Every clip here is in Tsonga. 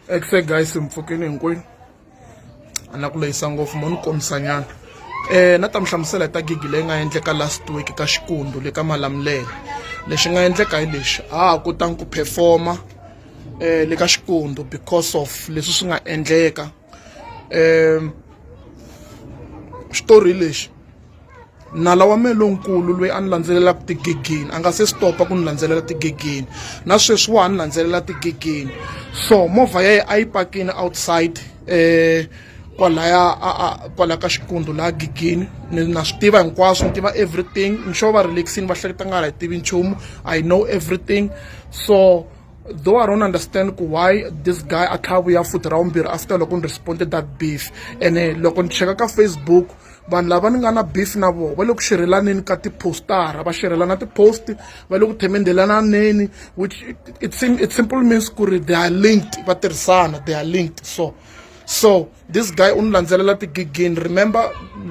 ekfe guys mpfukeni hinkwenu a na ku lehisa ngopfu mo ni kombisanyana um na ta mi hlamusela hi ta gigi leyi nga endleka last week ka xikundu le ka malamulele lexi nga endleka hi lexi a ha kotanga ku performa um le ka xikundu because of leswi swi nga endleka um xitori hi lexi nala wa mehe lonkulu loyi a ni landzelelaka tigegeni a nga se stop-a ku ni landzelela tigegeni na sweswi wa ha ni landzelela tigegeni so movha ya ye a yi pakini outside um kwalaya kwalaya ka xikundzu laha gigini ni na swi tiva hinkwaswo ni tiva everything nxo va relaxini va hleketa nga ri hi tivi nchumu i know everything so though I don't understand why this guy a tlhavuya futhi ra vumbirhi after loko ni responded that beef ene loko ni cheka ka Facebook vanhu lava ni nga na beef na vona va le ku xirhelaneni ka tiphostara va xirhelana tipost va le ku themendelananeni which it, it simple means ku ri they are linked va tirhisana they are linked so so this guy u ni landzelela tigigini remember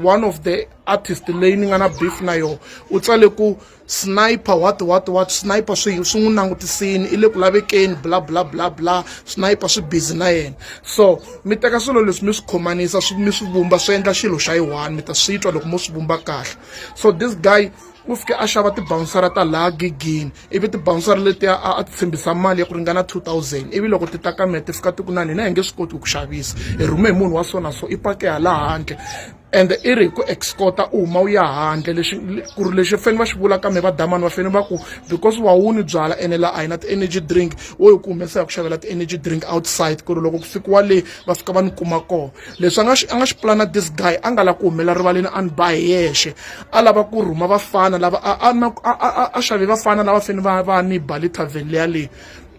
one of the artist leyi ni nga na beef na yona u tsale ku sniper what what what sniper swi swi n'wi langutisini i le ku lavekeni bla bla bla bla sniper swi busy na yena so mi teka swilo leswi mi swi khomanisa swi mi swi vumba swi endla xilo xa yi one mi ta swi twa loko mo swi vumba kahle so this guy u fike a xava tibawunsara ta laha gigini ivi tibawunsara letiya a a ti tshembisa mali ya ku ringana 2000 ivi loko ti ta ka mina ti fika ti ku na hina hi nge swi koti ku ku xavisa hi rhume hi munhu wa so na so i pake hala handle ende i ri hi ku excota u huma u ya handle leswi ku ri lexi fanele va swi vula ka mi va damani va fanele va ku because wa wu ni byala ene laha a hi na ti-energy drink wo hi ku humesa hi ku xavela ti-energy drink outside ku ri loko ku fikiwa le va fika va ni kuma kona leswi a nga xi a nga xi pulana this guy a nga lavi ku humelela rivaleni a ni ba hi yexe a lava ku rhuma vafana lava a a a a xave vafana lava fanele va va ni ba le tavern leya leyi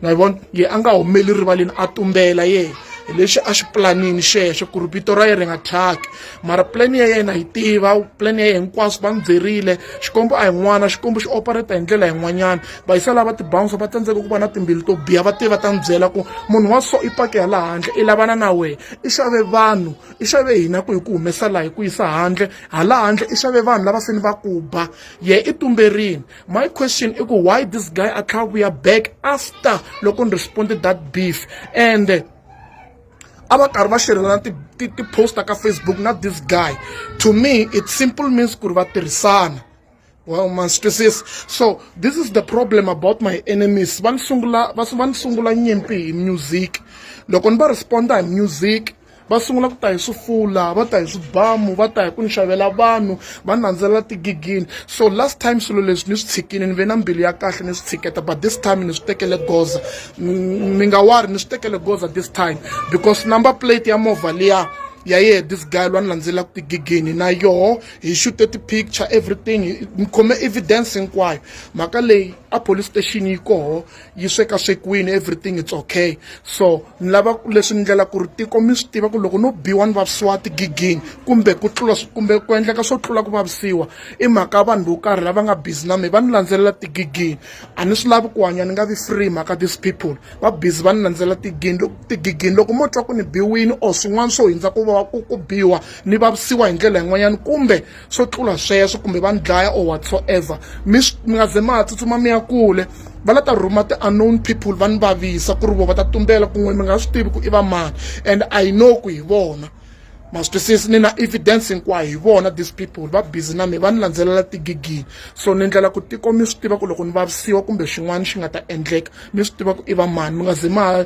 ma yi vona ye a nga humeli rivaleni a tumbela ye hi lexi a xi pulanini xexo ku ri vito ra yena ri nga thyaki mara pulani ya yena hi tiva pulani ya yena hinkwaswo va n'wi byerile xikombo a hi n'wana xikombo xi opereta hi ndlela yin'wanyana va yisa lava tibouncer va tsandzeka ku va na timbilu to biha va te va ta n'wi byela ku munhu wa so i pake ya laha handle i lavana na wena i xave vanhu i xave hina ku hi ku humesa laha hi ku yisa handle hala handle i xave vanhu lava se ni va ku ba ye i tumberini my question i ku why this guy a tlha vuya back after loko ni responde that beef and a va karhi va xerhelana ti-poster ka facebook na this guy to me it simple means ku ri va tirhisana well ma swi twisisa so this is the problem about my enemies va ni sungula va ni sungula nyimpi hi music loko ni va responda hi music va sungula ku ta hi swifula va ta hi swibamu va ta hi ku ni xavela vanhu va nandzelela tigigini so last time swilo leswi ni swi tshikile ni ve na mbilu ya kahle ni swi tshiketa but this time ni swi tekele goza mi nga wari ni swi tekele goza this time because number plate ya movha liya ya yehe this guy lwa ni landzelelaka tigigini na yoho hi xute ti-picture everything ni khome evidence hinkwayo mhaka leyi a police station yi koho yi sweka swekiwini everything it's okay so ni lava leswi ni ndlela ku ri tiko mi swi tiva ku loko no biwa ni vavisiwa tigigini kumbe ku tlula kumbe ku endleka swo tlula ku vavisiwa i mhaka vanhu vo karhi lava nga busy na me va ni landzelela tigigini a ni swi lavi ku hanya ni nga vi free mhaka these people va busy va ni landzelela tigini tigigini loko mo twa ku ni biwini or swin'wana swo hundza ku va ku ku biwa ni vavisiwa hi ndlela yin'wanyana kumbe swo tlula sweswo kumbe va ni dlaya or whatsoever mi mi nga ze ma ha tsutsuma mi ya kule va la ta rhuma ti-unknown people va ni vavisa ku ri vo va ta tumbela kun'we mi nga swi tivi ku i va mani and i know ku hi vona ma swi twisisi ni na evidence hinkwayo hi vona these people va busy na mi va ni landzelela tigigini so ni ndlela ku tiko mi swi tiva ku loko ni vavisiwa kumbe xin'wana xi nga ta endleka mi swi tiva ku i va mani mi nga ze ma